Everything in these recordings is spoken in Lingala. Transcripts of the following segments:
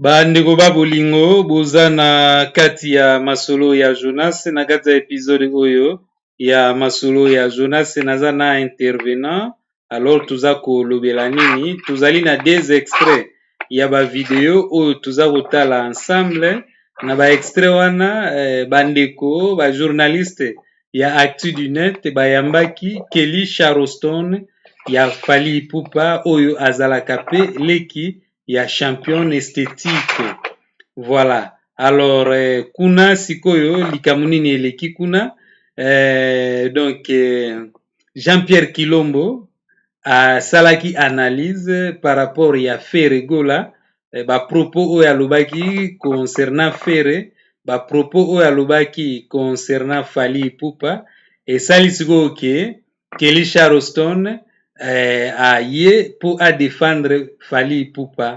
bandeko ba bolingo boza na kati ya masolo ya jonas na kati ya episode oyo ya masolo ya jonas naza na intervenant alors toza kolobela nini tozali na des extraits ya bavideo oyo toza kotala ensemble na ba extrait wana eh, bandeko bajournaliste ya actu du net bayambaki kelly charleston ya fally ipupa oyo azalaka pe leki ya champion esthétique voilà alors euh, kuna sikoyo likambo nini eleki kuna euh, donc euh, jean pierre kilombo asalaki analyse par rapport ya ferregola eh, ba propos oyo alobaki concernant Ferre, ba propos oyo alobaki concernant Fally Ipupa esali sikoyo ke Kelly Charleston eh, aye mpo a défendre Fally Ipupa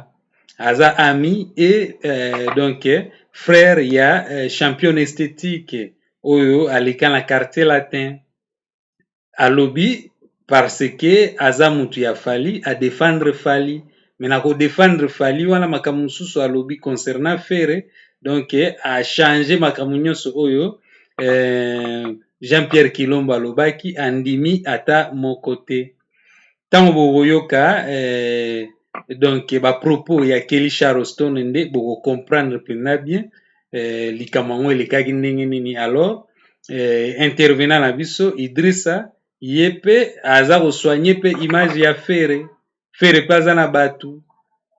aza ami et eh, donc frère ya eh, champion esthétique oyo aleka na quartier latin alobi parce que aza mutu ya Fally a defendre Fally mais na ko defendre Fally wana makambo mosusu alobi concernant Ferre donc a changer makambo nionso oyo eh, Jean-Pierre Kilombo alobaki andimi ata moko te. Tango bokoyoka eh, donc ba propos ya Kelly Charleston nde boko comprendre mpenza bien eh, likambo yango elekaki ndenge nini. Alors eh, intervenant na biso Idrissa ye mpe aza kosoigne mpe image ya Ferre, Ferre mpe aza na batu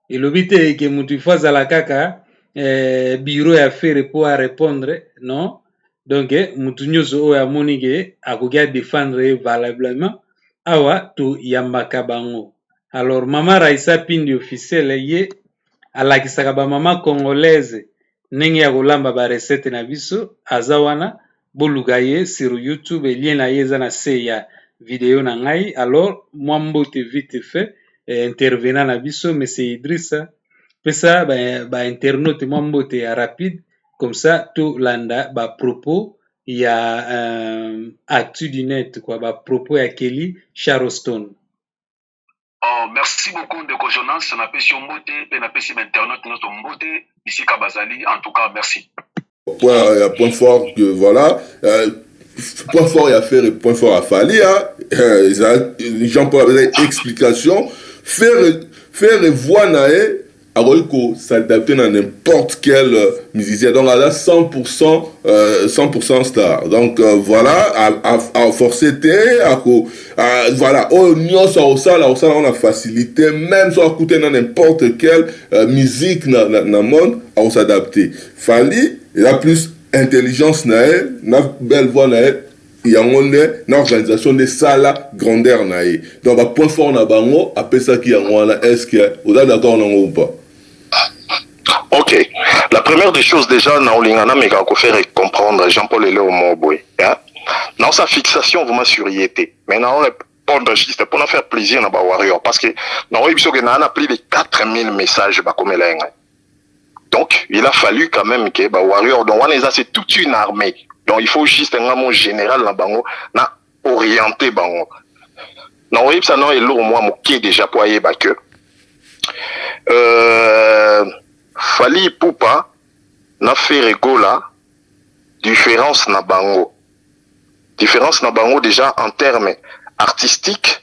elobi te ke mutu il faut azala kaka eh, bureau ya fere po a répondre non donc mutu nyonso oyo amoni ke akoki a défendre ye valablement awa toyambaka bango alors mama raisa pindi officiel ye alakisaka ba mama congolaise ndenge ya kolamba ba recette na biso aza wana boluka ye sur youtube lien na ye eza na se ya video na ngai alors mwa mbote vite fait eh, intervenant na biso monsieur idrissa pesa ba, ba internaute mwa mbote ya rapide comme ça tolanda ba propos ya euh, actu du net quoi ba propos ya kelly charleston Oh, merci beaucoup ndeko Jonas, napesi yo mbote mpe napesi bainternaute nyonso mbote bisika bazali. En tout cas, merci. Point, euh, point fort que voilà. Euh, point fort ya Ferre, point fort ya Fally. Hein. Euh, Jean-Paul avait explication. Ferre, Ferre voit nae akoki ko s'adapter na n'importe quel musicien donc aza 100 pourcent, 100 pourcent star donc voila a forcer te ako voila oyo nionso akosala akosala yango na facilite meme soki akutani na n'importe quel musique na monde ako s'adapter, Fally eza plus intelligence na ye na belle voix na ye. Yango nde na organisation nde esala grandeur na ye. Donc ba points forts na bango apesaki yango wana est ce que oza d'accord na ngo ou pas? Ok, la première des choses dejà naolinga nameka ko faire comprendre Jean Paul Eleo moko boye hein? naosa fixation vraiment sur ye te mais nao répondre juste pona faire plaisir na ba warrior parce que naoyebi biso ke naa na plus de 4000 messages bakomela ye ngai donc il a fallu quand même que ba warrior donc wana eza c'est toute une armée donc il faut juste nga mon général na bango na orienter bango na oyebisa na eloko mwa moke déjà mpo ayeba que euh, fali ipupa na fere gola différence na bango différence na bango déjà en terme artistique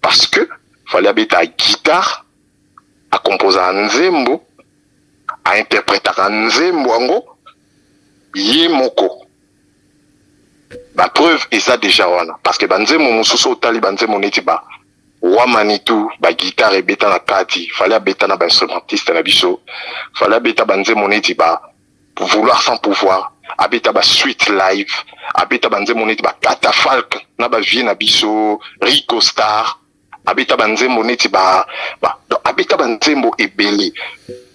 parce que fallait abeta guitare a composa nzembo a interpretaka nzembo yango ye moko ba preuve eza deja wana parce que banzembo mosusu otali banzembo neti ba wa manitou ba guitare ebeta na kati fallait abeta na ba instrumentiste na biso fallait abeta banzembo neti ba Vouloir sans pouvoir abeta ba suite live abeta ba nzembo neti ba catafalque na ba vieux na biso Rico Star abeta ba nzembo neti ba, ba donc abeta ba nzembo ebele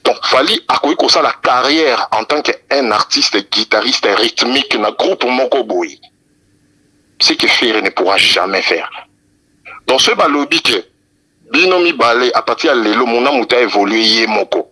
donc Fally akoki kosala carrière en tant que un artiste guitariste rythmique na groupe moko boye ce que Ferre ne pourra jamais faire donc soki balobi que Bino mibale à partir ya lelo muna mutu a evoluer ye moko.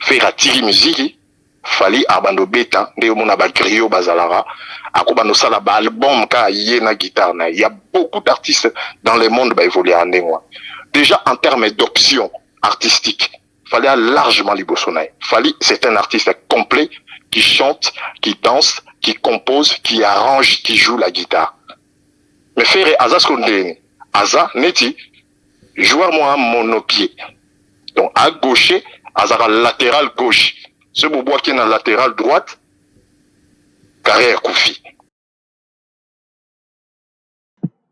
Ferre atiki miziki, Fally abanda obeta nde yo mona ba griots bazalaka, ako banda osala ba album kaka ye na guitare na ye. Il ya beaucoup d'artistes dans le monde ba evoluaka ndenge wana. Dejà en terme d'option artistique, Fally a largement liboso na ye. Fally c'est un artiste complet qui chante, qui danse, qui compose, qui arrange, qui joue la guitare. Mais Ferre aza siko ndeni? Aza neti joueur mwa monopied. Donc a gaucher azaka lateral gauche. Soki bobwaki na lateral droite carrière ekufi.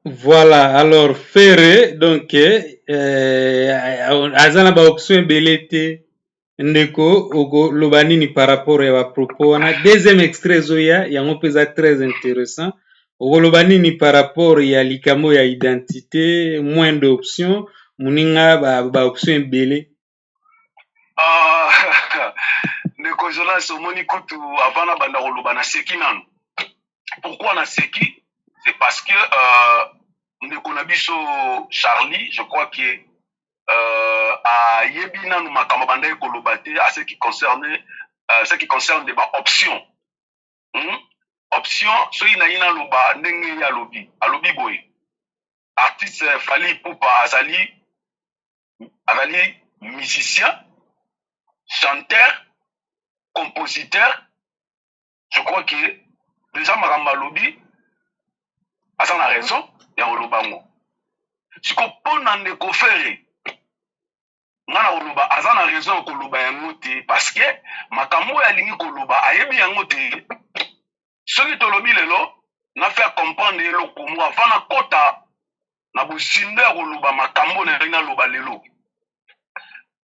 Voilà, alors Ferre donc euh, aza na ba option ebele te. ndeko okoloba nini par rapport ya bapropos wana deuxième extrait ezoya yango mpe eza très intéressant okoloba nini par rapport ya likambo ya identité moins d'option moninga baoption ba ebele ah, ndeko jonas omoni kutu avana banda koloba na seki nano pourquoi na seki c'est parce que euh, ndeko na biso charlie je crois que euh, ayebi nanu makambo abandaki koloba te à ce qui concerne euh, ce qui concerne de ba option hmm? option soki naye naloba ndenge ye alobi alobi boye artiste euh, fali pupa azali azali musicien chanteur compositeur je crois que deja makambo alobi aza na raison ya koloba yango siko mpo na ndeko fere nga na koloba aza na raison ya koloba yango te parce que makambo oyo alingi koloba ayebi yango te soki tolobi lelo na faire comprendre eloko moko avant nakota na bozindo ya koloba makambo na yangi naloba lelo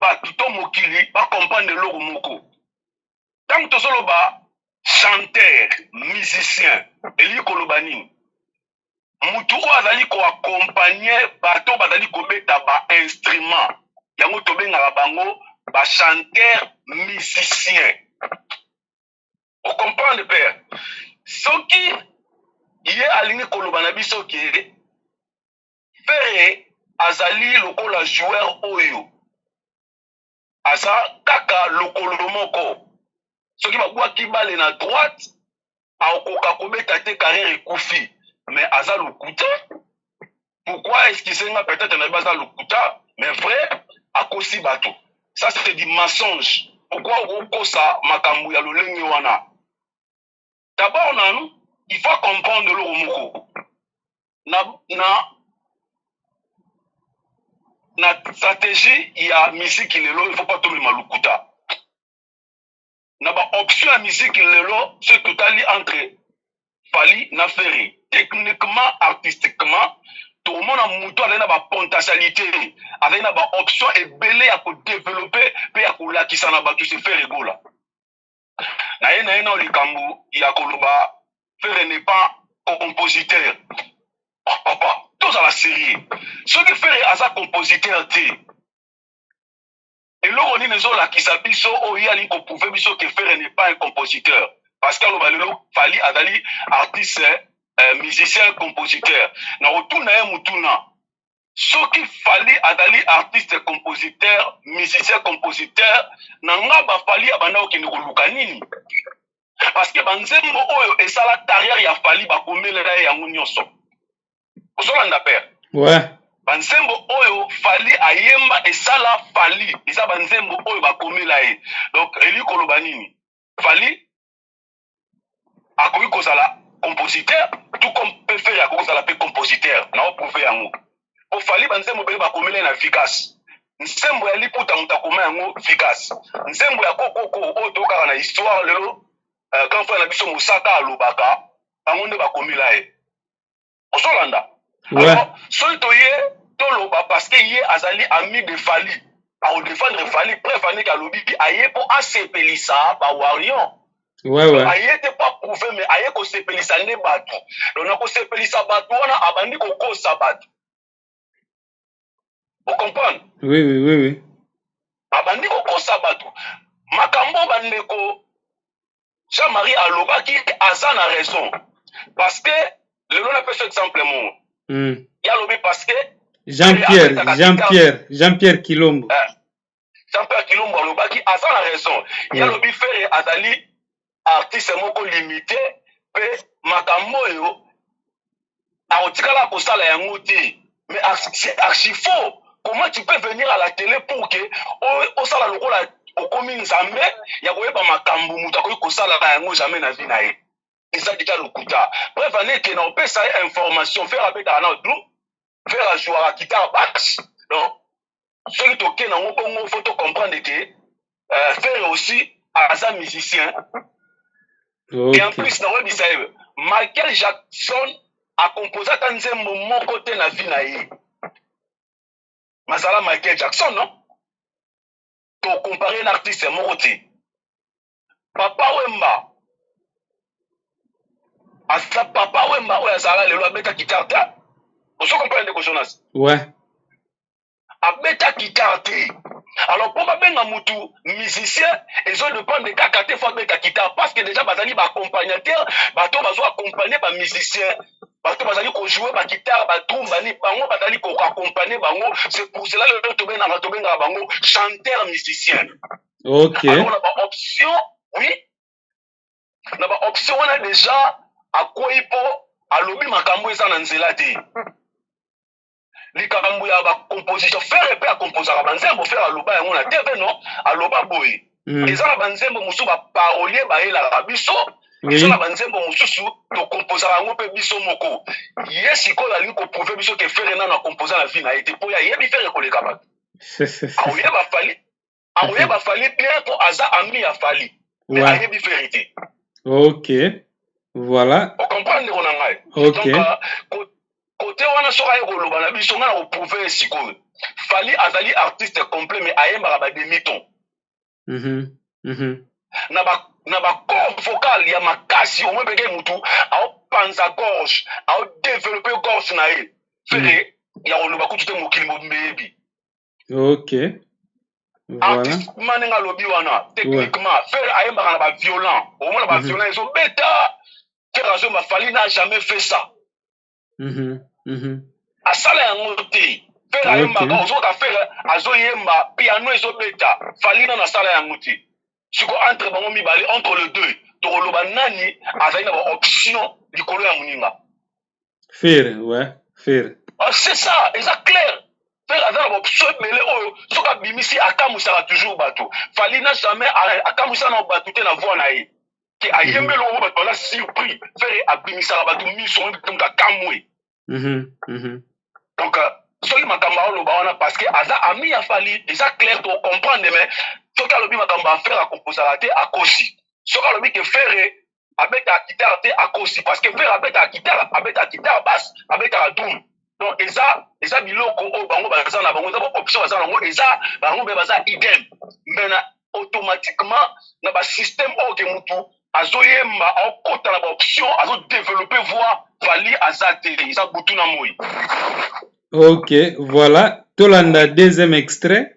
bato to mokili bacomprendre eloko moko ntango tozoloba chanteur musicien elingi koloba nini motu oyo azali koakompagne bato bazali kobeta bainstrument yango tobengaka bango bachanteur musicien ocomprendre père soki ye alingi koloba na biso ke Ferre azali lokola joueur oyo aza kaka lokolo moko soki babwaki bale na droite akokoka kobeta te carrière ekufi mais aza lokuta pourquoi excuse nga peut-être nayebi aza lokuta mais vrai akosi bato ça c'est du mensonge pourquoi okokosa makambo ya lolenge wana d'abord nanu il faut comprendre eloko moko na, na, na stratégie ya miziki lelo il faut pas tomema lokuta na baoption ya miziki lelo soki totali entre fali na ferre techniquement artistiquement tokomona moto azali na bapotentialité azali na baoption ebele ya kodevelope mpe ya kolakisa na bato sefere egola naye naye nao likambo ya koloba fere n'est pas compositeur papa tozala serieux soki fere aza compositeur te eloko nini ezolakisa biso oyo ye alingi koprouve biso ke fere n'est pas un compositeur parce que aloba lelo fali azali artiste euh, musicien compositeur na kotuna ye motuna soki fali azali artiste compositeur musicien compositeur na nga ba fali abanda kokende koluka nini parce que banzembo oyo esala carrière ya fali bakomelela ye yango nyonso ozolanda père ouais. banzembo oyo fali ayemba esala fali eza banzembo oyo bakomela ye donc eli koloba nini fali akoki kozala compositeur tout comme pefere akoki kozala mpe compositeur na oprouve yango po fali banzembo ebele bakomela ye na vigas nzembo ya liputa moto akoma yango vigas nzembo ya kokoko oyo tokaka na histoire lelo uh, grand frère na biso mosaka alobaka bango nde bakomela ye ozolanda alors soki toye toloba parce que ye azali ami de fali akodefendre fali preuve anike alobi aye mpo asepelisa bawarion ouais, ouais. aye te mpo aprouve me aye kosepelisa nde bato donc na kosepelisa bato wana abandi kokosa bato okomprendre oui, oui, oui, oui. abandi kokosa bato makambo bandeko jean marie alobaki aza na raison parce que lelo napesa exemple moko mm. ye alobi parce que jean pierre jean pierre jean pierre kilombo eh. jean pierre kilombo alobaki aza na raison ye alobi fere azali artiste moko limite mpe makambo oyo akotikala kosala yango te mais c'est archi faux comment tu peux venir à la télé pour que osala lokola okomi nzambe ya koyeba makambo moto akoki kosala na yango jamais na vie na ye eza dika lokuta bref aneke na opesa ye information fere abetaka na dru fere ajouaka kitare bas donc soki toke nango bongo fo to comprendre ke euh, fere aussi aza musicien okay. et en plus nakoyebisa ye michael jackson akompoze ata nzembo moko te na vie na ye mazala michael jackson no tokompare na artiste moko te papa wemba aza papa wemba oyo azala lelo abeta guitare te ozo comprendre ndeko jonas ouais. abeta guitare te alors mpo babenga motu musicien ezo dépendre kaka te fo abeta guitare parce que déjà bazali baaccompagnateur bato bazo accompagne bamusicien bato bazali kojoue bagitare batumbani bango bazali koaccompagne bango c'est pour cela lelo tobengaka tobengaka bango chanteur musicien ok alors na ba option oui na ba option wana deja akwei mpo alobi makambo eza na nzela te likambo ya ba composition fere mpe akomposaka banzembo fere aloba yango na tv no aloba boye mm. eza na banzembo mosusu baparolier bayelaka biso biso na banzembo mosusu tokomposaka yango mpe biso moko ye sikoyo alingi koprouve biso ke fere nano akompoza na vie na ye te mpo ye ayebi fere koleka bato aoyeba fali akoyeba fali clair po aza ami ya fali mais ouais. ayebi verité ok voilà ocomprendre ndeko na ngai ok donc kote euh, wana soki aye koloba na biso ngai na koprouve ye sikoyo fali azali artiste complet mais ayembaka ba demi ton mm -hmm. mm -hmm. na ba na bacor vocal ya makasi omoi mpeke motu aopanza gorge aodevelope gorge na ye fere mm. ya koloba kutu te mokili mobimba eyebi ok artiste kuma ndenge alobi wana techniquement ferre ayembaka na ba violent omona ba mhm. violent ezobeta ferre azomba fali n'a jamais fait ça mhm, mhm. asala yango te ferre ayembaka ozoka ferre azoyemba piano ezobeta fali nana asala yango te siko entre bango mibale entre le deux tokoloba nani azali na baoption likolo ya moninga Ferre, ouais, Ferre. Ah, c'est ça, eza clair. Ferre aza na ba option ebele oyo soki abimisi akamwisaka toujours bato. Fally na jamais akamwisa na bato te na voix na ye. Ke ayembe eloko bato baza surpris. Ferre abimisaka bato miso donc akamwe. Mhm, mhm. Donc euh, soki makambo aoloba wana parce que aza ami ya Fally, eza clair to comprendre mais soki alobi makambo ya Ferre akomposaka te akosi. Soki alobi ke Ferre abetaka guitare te akosi parce que ferre abetaka guitare abetaka guitare basse abetaka drum donc eza eza biloko oyo bango baza na bango eza baoption baza na bango eza bango mpe baza idem mais na automatiquement na basystème oyo ke motu azoyemba aokota na baoption azodeveloppe voix vali aza te eza butu na moi ok voilà tolanda deuxième extrait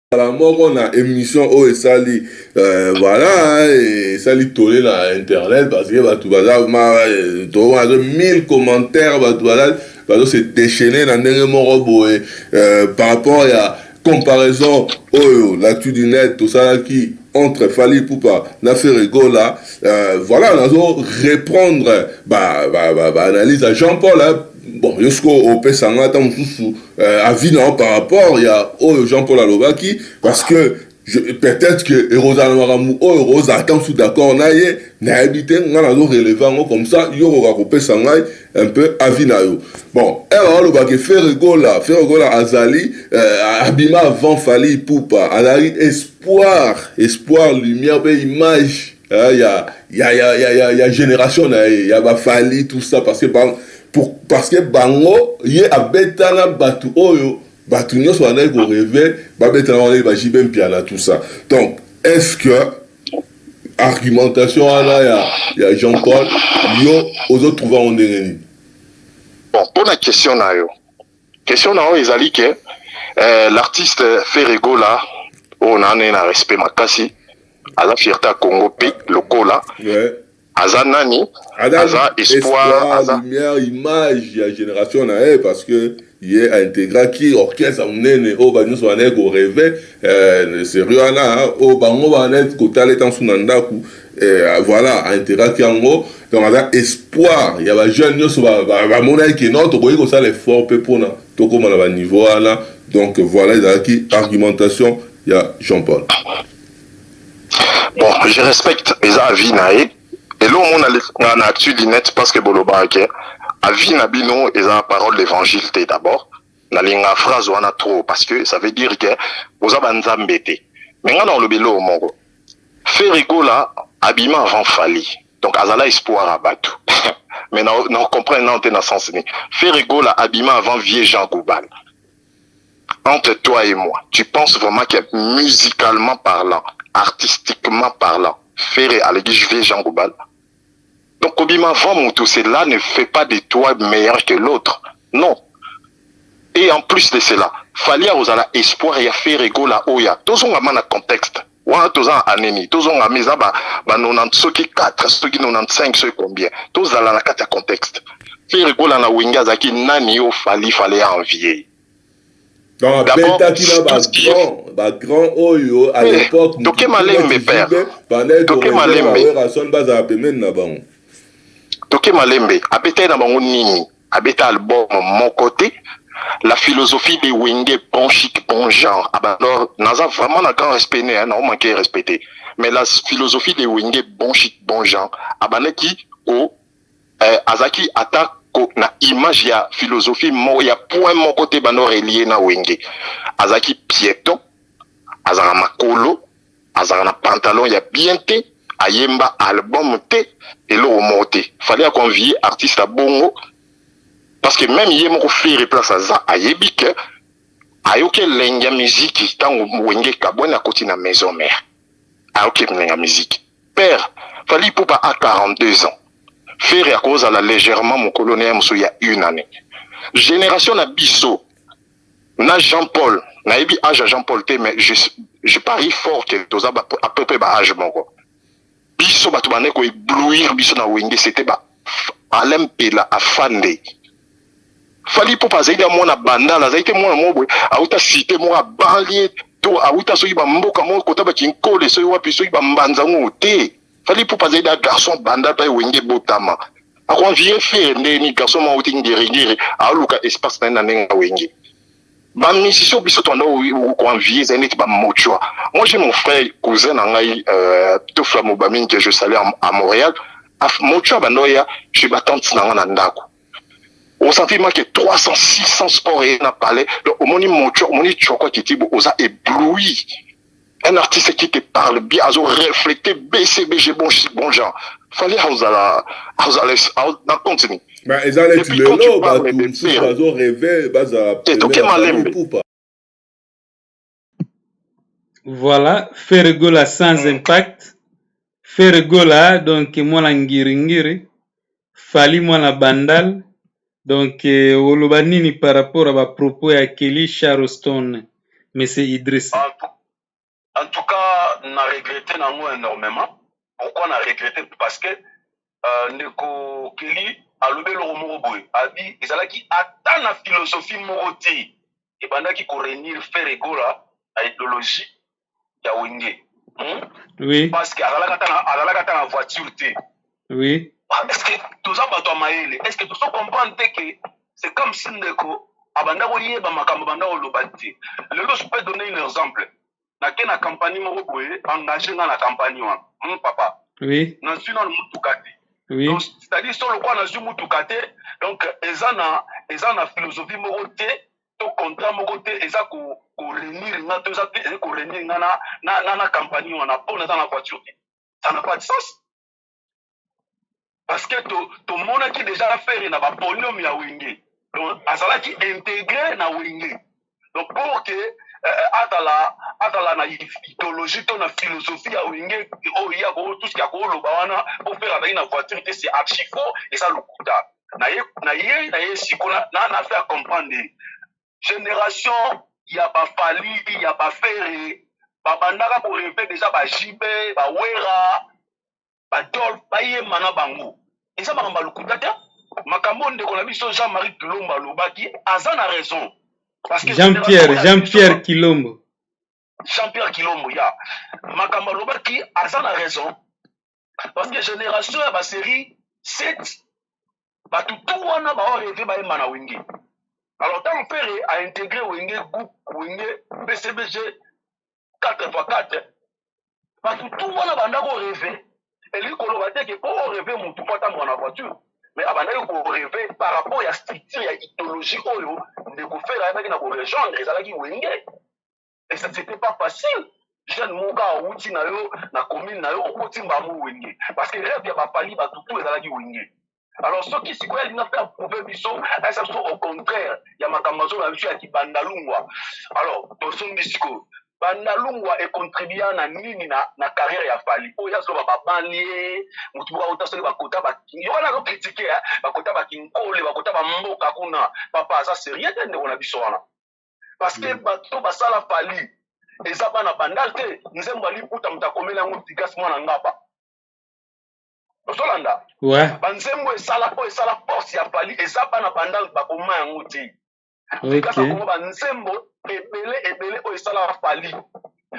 kala moko na émission oyo esali euh, voilà esali tole na internet parce que bato baza euh, toazo 1000 commentaires bato baza bazo se déchaîner na ndenge moko boye euh, par rapport ya comparaison oyo l'actu du net tosalaki entre Fali Poupa na Ferregola euh, voilà nazo reprendre ba, ba, ba, ba analyse ya Jean-Paul hein, Bon, yo sikoyo opesa nga ata mosusu euh, avis na yo par rapport ya oyo Jean Paul alobaki parce que peut-être que ekozala na makambo oyo okozala ata mosusu d'accord na ye nayebi te ngai nazo releve yango comme ça yo okoka kopesa ngai un peu avis na yo bon ere alobaki ferregola ferregola azali euh, abima avant fali ipupa azalaki espoir espoir lumière mpe image euh, ya, ya, ya, ya, ya, ya génération na ye ya bafali tout ça parce que bango pour, parce que bango ye abetana bato oyo bato nyonso bandaki koreve babetana wana ye bajibe mpiana tout ça donc est ce que argumentation wana ya, ya jean paul yo ozotrouve yango ndenge nini bon mpo na question na yo Question na yo ezali ke eh, l'artiste Ferre Gola oyo oh, naane na respect makasi aza fierté ya Congo pe lokola ouais. aza nani aza, aza espoir, espoir aza lumière image ya génération na ye parce que ye aintegraki orchestre monene oyo bato nyonso bandaki koreve eh, serie wana oyo bango bandaki kotala etansu na ndako Eh, ah, voilà aenteraki yango donc aza espoir ya bajeune nyonso bamonaki ke non tokoki kosala effort mpe mpona tokóma na baniveau wana donc voilà ezalaki argumentation ya jean paul bon je respecte eza avis na ye eloo mona nga na actu linete parce que bolobaka ke avis na bino eza parole d'évangile te d'abord Nalinga phrase wana trop parce que ça veut dire que boza ba nzambe te. Mais nga na olobi lo moko. Ferre Gola abima avant Fally. Donc azala espoir à batu. Mais na na comprendre na te na sens ni. Ferre Gola abima avant vieux Jean Goubal. Entre toi et moi, tu penses vraiment que musicalement parlant, artistiquement parlant, Ferre alegi vieux Jean Goubal Donc kobima avant mutu cela ne fait pas de toi meilleur que l'autre. Non. Et en plus de cela, Fally akozala espoir ya Ferre Gola oya. Tozonga mana contexte. Wana toza anemi, tozonga meza ba ba 90 soki 4, soki 95 soki combien. Tozala na kati ya contexte. Ferre Gola na Wenge azaki nani yo Fally fallait envier. Donc abetaki na ba grand ba grand oyo à l'époque toke malembe père toke malembe Werrason bazala pembeni na bango toke malembe abetaki na bango nini abeta album moko te la philosophie de Wenge bon chic bon genre abandor naza vraiment na grand respect ne na manquer respecté mais la philosophie de Wenge bon chic bon genre abandaki ko eh, azaki ata ko na image ya philosophie mo, ya point moko te bando relie na wenge azalaki pieton azalaka makolo azalaka na pantalon ya bien te ayemba album te eloko moko te fallait aconvie artiste ya bongo parce que même ye moko fere place aza ayebi ke ayoki elengi ya miziki ntango wenge kabwani akoti na maison mère ayoki elengi ya miziki Père, Fally Ipupa a 42 ans. Ferre akozala légèrement mokolo na ye mosusu ya une année. Génération na biso na Jean Paul, nayebi âge ya Jean Paul te mais je, je parie fort que toza à peu près ba âge moko. Biso bato bande ko éblouir biso na Wenge c'était ba Alain Mpela afande Fally Ipupa azali na mwana bandal azali te mwana moko boye awuta site moko abanlie to awuta soki bamboka moko kota bakinkole soki wapi soki bambanza ngo te Fally Ipupa azali na garçon bandal mpe wenge botama akoanvire fere ndeni garçon moko awuti ngeringeri aoluka espace na ye na ndenge ya wenge ba musiciens biso tobanda ko envier ezali neti ba mochua moi j'ai mon frère cousin na ngai euh, tofla mobamini que je salue à montréal mochua abanda oya chez batante na ngai na ndako osanti make 300 600 sport eye na palais donc omoni mochua omoni choko kitibo oza ébloui un artiste qui te parle bien azo refléter bcbg bon, bon genre fali aozala aozala na compte nini ba eza leti lelo bato mosusu bazo reve bazala toke malembe voilà ferregola sans impact ferregola donc mwana ngiringiri Fally mwana bandal donc oloba nini par rapport ya ba propos ya Kelly Charlestone monsieur Idrissa? En tout, en tout cas na regrette na yango enormement pourquoi na regrette parce que euh, ndeko Kelly alobi eloko moko boye abi ezalaki ata na philosophie moko te ebandaki ko renir Ferre Gola na ideologie ya wenge hmm? oui. parce que azalaka ata na voiture te oui. Ah, est ce que toza bato ya mayele est ce que tozo comprendre te ke c'est comme si ndeko abanda koyeba makambo abanda koloba te lelo je peux donner un exemple nake na campagne moko boye engage nga na campagne wana hmm, papa oui. nazwi nano motuka te oui. donc c'est-à-dire so lokola nazwi motuka te donc eza na eza na philosophie moko te to contrat moko te eza ko ko renir nga to eza te ko renir nga na na na, na compagnie wana po naza na voiture te ça n'a pas de sens parce que to tomonaki déjà affaire na ba podium ya wenge donc azalaki intégré na wenge donc pour que euh, azala azala na idéologie to na philosophie ya wenge oyo ye akotuski akoloba wana po faire azalaki na voiture te c'est archi faux eza lokuta nayei na ye siko na faire comprendre ye generation ya ba fali ya ba fere babandaka koreve deja ba jb bawera badolf bayemba na bango eza makambo ya lokuta te makambo oyo ndeko na biso jean marie kilombo alobaki aza na raison jean pierre jean pierre kilombo jean pierre kilombo ya makambo alobaki aza na raison parce que génération ya basérie 7 bato tu wana baoreve bayemba na wenge alors ntango pere aintegre wenge groupe wenge bcbg 4 fois 4 bato tu wana banda koreve elingi koloba te ke mpo oreve motu mpo atambola na voiture mais abandaki koreve par rapport ya structure ya idéologie oyo ndeko fere ayebaki na korejoindre ezalaki wenge et ça c'était pas facile jeune moka awuti na yo na commune na yo okoti mbango wenge parce que rêve ya bapali bato tout ezalaki wenge alors soki sikoyo alingi mpe aprouve biso ayesa biso au contraire ya makambo azoloba biso ya kibandalungwa alors tosombi sikoyo bandalungwa econtribua na nini na, na carrière ya fali oyo azoloba babandi ye motu moko auta soki bakota yo wana azokritike bakota bakinkole bakota bamboka kuna papa aza serie te ndeko na biso wana parce que mm. bato to basala fali eza bana bandal te nzembo aliputa moto akomeli yango digas mwana ngaba ozolanda ouais. banzembo esala oyo esala force ya fali eza bana bandal bakoma yango te digas okay. akoma banzembo ebele ebele oyo esala fali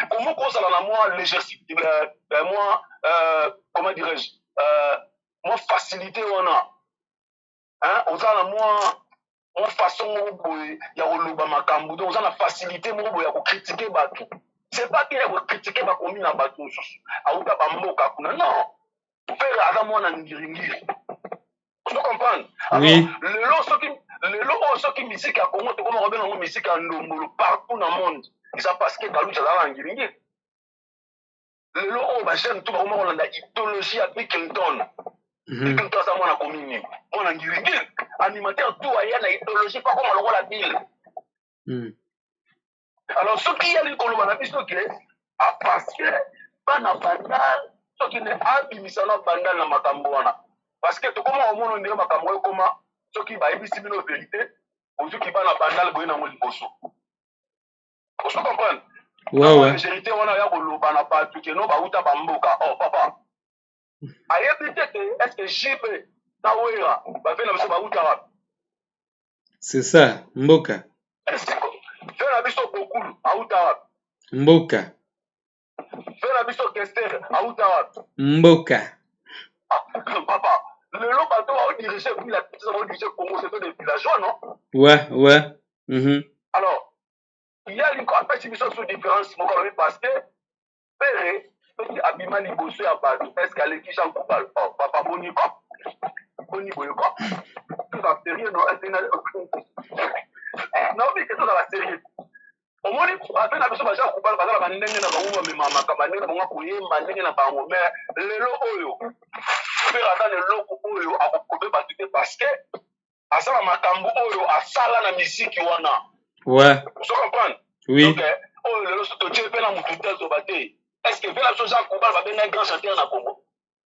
komo kozala na mwa légèreté mwa euh, comment dirais-je euh, mwa facilité wana hein, oza na mwa mwa façon moko boye ya koloba makambo donc oza na facilité moko boye ya kokritike bato c'est pas bien ya kokritike bakomi na bato mosusu auta bamboka kuna non pere aza mwana ngiringiri ozo comprendre oui. lelo soki lelo oyo soki misiki ya congo tokoma kobenga yango misiki ya ndombolo partout na monde eza parce que baluti azalaka na ngiringiri lelo oyo oh, bajeune to bakoma kolanda idéologie ya bill clinton mhm. bill clinton aza mwana komi nini mwana ngirigiri animateur tu aya na idéologie mpo akoma lokola bill mhm. alors soki ye alingi koloba na biso ke ah, parce que bana bandal soki ne abimisa na bandal na makambo wana parce que tokoma komono ndenge makambo oyo ekoma soki bayebisi bino verité ozuki bana bandal boye nango liboso ozo comprendre wawa verite wana ya koloba na bato keno bauta bamboka oh papa ayebi te te eske jb na wera bave na biso bauta wapi c'est ça mboka ve na biso bokulu auta wapi mboka Yo na biso Kester auta wapi? Mboka. Ah, papa, lelo bato bao diriger puis la petite bao diriger Congo c'est des villageois non? Ouais, ouais. Mm -hmm. Alors, il y a une apesi biso sous différence moko alobi parce que pere soki abima liboso ya bato est ce que aleki jean coubal oh, papa boni ko boni boye ko toza sérieux no naobi ke tozala sérieux omoni bape na biso baza kubala baza na bandenge na bango bamemamaka bandenge na bango akoyemba ndenge na bango me lelo oyo mpe aza na eloko oyo akokobe bato te parceke aza na makambo oyo asala na miziki wana ozo comprendre donc eh, oyo lelo so totie mpe na motu te azoba te estce mpe na biso oza kubala babengai grand chanteur na congo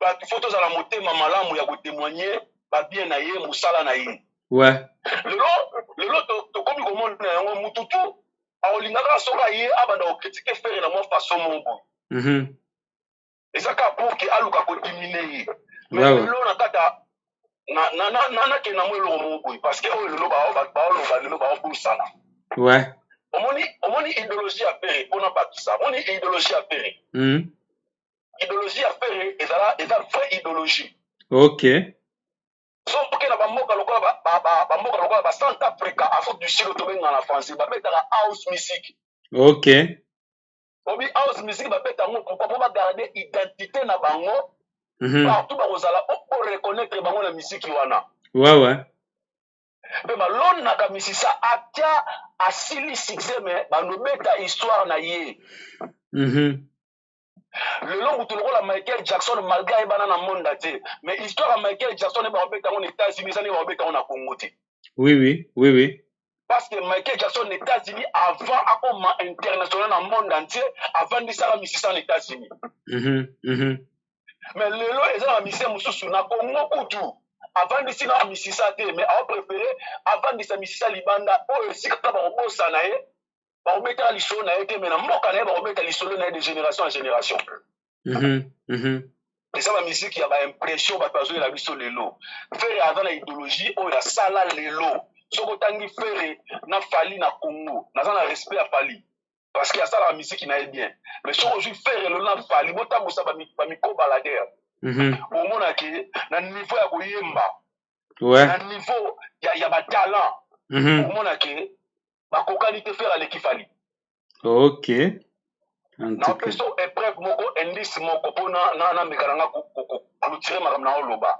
bato faut tozala motema malamu ya kotemoigne babien na ye mosala na ye ouais. lelo lelo tokomi komona yango motu tu akolinga kaka soki aye abanda kokritike fere na mwa faso moko boye mhm. eza kaka pour ke aluka kodimine ye lelo na kata nakende na mwa eloko moko boye parce que oyo lelo baoloba lelo baobosana ouais. omoni omoni idéologie ya pere mpona bakisa omoni idéologie ya pere mm. ideologie ya ferre ezala eza vrai ideologie ok soki na bamboka lokola bamboka lokola ba centre africa afrique du sud tobenga na français babetaka house music ok obi house music babeta yango pourkoi mpo bagarde identité na bango mhm. partout bakozala po reconnaitre bango na misiki wana wawa ouais, ouais. mpe balonaka misisa atya asili succès me bandobeta histoire na ye mm -hmm. lelo moto lokola michael jackson malgre ayebana na monde entier mais histoire ya michael jackson nde bakobeta yango na états-unis eza nde bakobeta yango na congo te oui oui oui oui parce que michael jackson na états-unis avant akoma international na monde entier avandisaka misisa na états-unis mm -hmm, mm -hmm. mais lelo eza na misisa mosusu na congo kutu avandisi na misisa te mais aopréféré avandisa misisa libanda oyo esika bakobosana ye bakobetaka lisolo na ye te me na mboka na ye bakobeta lisolo na ye de génération en génération mhm, mhm. eza bamiziki ya baimpression bato bazoyela biso lelo fere aza na idéologie oyo asala lelo soki otangi fere na fali na congo naza na respect ya fali parce que asalaka miziki na ye bien mais soki ozwi fere lelo na fali botambusa bamikobaladere mhm. omonake na niveau ya koyemba na niveau ya batalant omonake bakokani te fere aleki fali ok napesa epreuve moko indice moko mpo nameka na nga koclotire makambo na oloba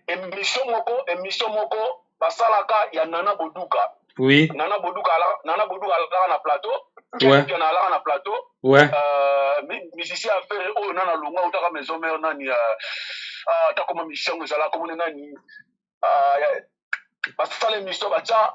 emission moko emission moko basalaka ya nana boduka oui. nana boduka nana boduka alaka na plateau kenken alaka na plateau ouais. euh, musicien ya fere oyo nana longa otaka maison mare nani euh, euh, atakoma musicien yango ezalaka komone nani basala émission batya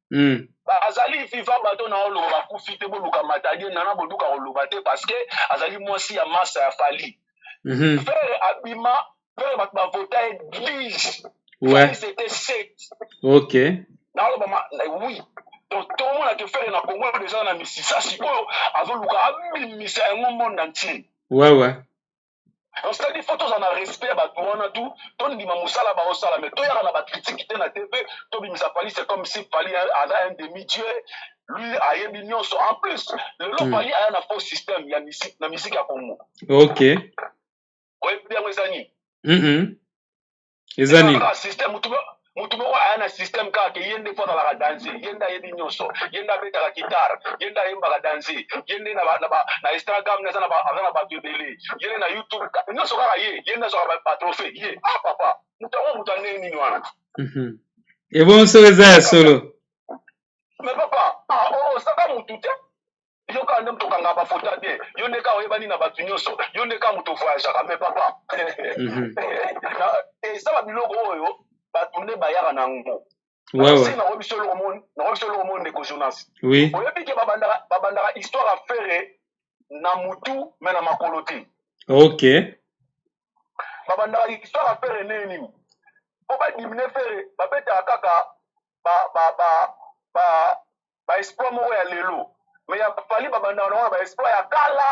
mm. bazali viva bato na oloba bakufi te boluka matadie nana boduka koloba te parce que azali mwasi ya masa ya fali mm -hmm. fere abima fere bato bavota eglise ouais. c'était sept ok naoloba oui donc tomona ke fere na kongo deja na misisa sikoyo azoluka abimisa yango monde entier ouais, ouais. donc c'est-à-dire faut tozala na respect ya bato wana tu tondima mosala baosala mais toyaka na bacritique te na te mpe tobimisa pali c'est comme si pali aza un demi dieu lui ayebi nyonso en plus lelo hmm. pali aya na faux système ya misik na misiki ya congo ok oyebi yango eza nini eza nini système mutu mutu moko aya na système kaka ke ye nde mpo azalaka danze ye nde ayebi nyonso ye nde abetaka guitare ye nde ayembaka danze ye nde na instagram aza na bato ebele ye nde na youtube nyonso kaka ye ye nde azwaka batrofe ye a ah, papa moto yango moto ya ndenge nini wana mhm. ebonso eza ya solo me papa ah, oh, oh, osaka motu te yo kaka nde moto okangaka bafoto ya bien yo nde kaka oyebani na bato nyonso yo nde kaka moto ovoyagaka me papa mhm. eza eh, babiloko oyo bato nde bayaka na yango nakoyebi biso eloko moni ndeko jonas oyebi ke babandaka histoire ya fere na motu me na makolo te ok babandaka histoire ya fere ndenge nini mpo badimine fere babetaka kaka ba, ba, ba, ba ba espoir moko ya lelo mais ya fali babandaka nango na ba espoir ya kala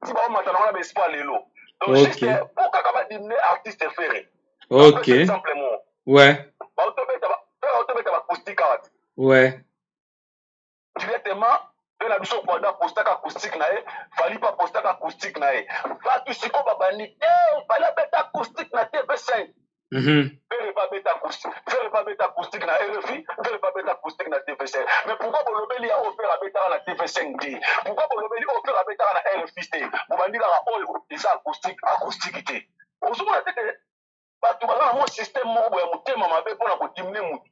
ti baomata nango na ba espoir lelo donc okay. juste po kaka badimine artiste fere ok exemple mo ouais baotobeta baotobeta bacoustique awa ti ouais directement mpe na biso kwada postaka acoustique na ye fali mpe apostaka acoustique na ye bato sikoyo babandi te fali abeta acoustique na tv 5 Mhm. Vele ba beta acoustique, vele ba beta acoustique na RFI, vele ba beta acoustique na TV5. Mais pourquoi bolobeli ya Ofer abetaka na TV5 te? Pourquoi bolobeli Ofer abetaka na RFI te? Bobandi kaka oyo oh, eza acoustique, acoustique te. Ozomona te ke bato baza na mwa système moko boya motema mabe mpo na kodimine motu.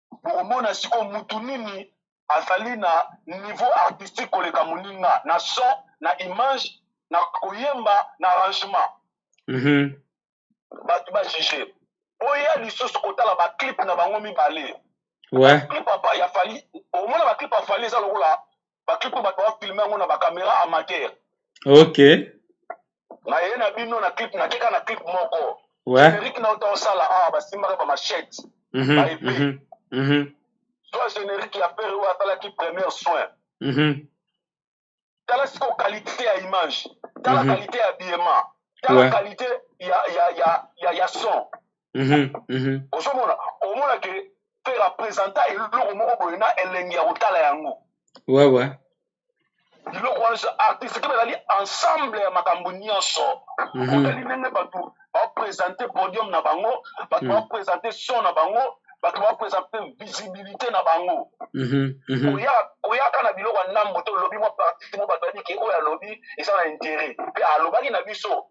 bokomona sikoyo mutu nini azali na niveau artistique koleka moninga na son na image na koyemba na arrangement mm -hmm. bato bajuge oya lisusu kotala baclip na bango mibale ouais. clip ya fali omona baclip ya fali eza lokola ba clip bato ba filme yango na ba camera amateur ok na ye na bino na clip na keka na clip moko ouais. générique na ota osala awa basimbaka ba machette mm -hmm, ba épée mm -hmm. soit générique ya pere oyo asalaki première soin mm -hmm. tala siko qualité ya image tala mm -hmm. qualité ya biyema tala ouais. qualité ya, ya, ya, ya, ya son Mhm, mhm. ozomona omona ke mpe representa eloko moko boye na elengi ya kotala yango ouais, ouais. biloko wana artiste ke bazali ensemble ya makambo nyonso mhm. otali ndenge bato bapresente podium na bango bato mhm. bapresente son na bango bato bapresente visibilité na bango koyaka na biloko ya ndambo to olobi mwa parti mo bato babiki oyo alobi eza na intérêt mpe alobaki na biso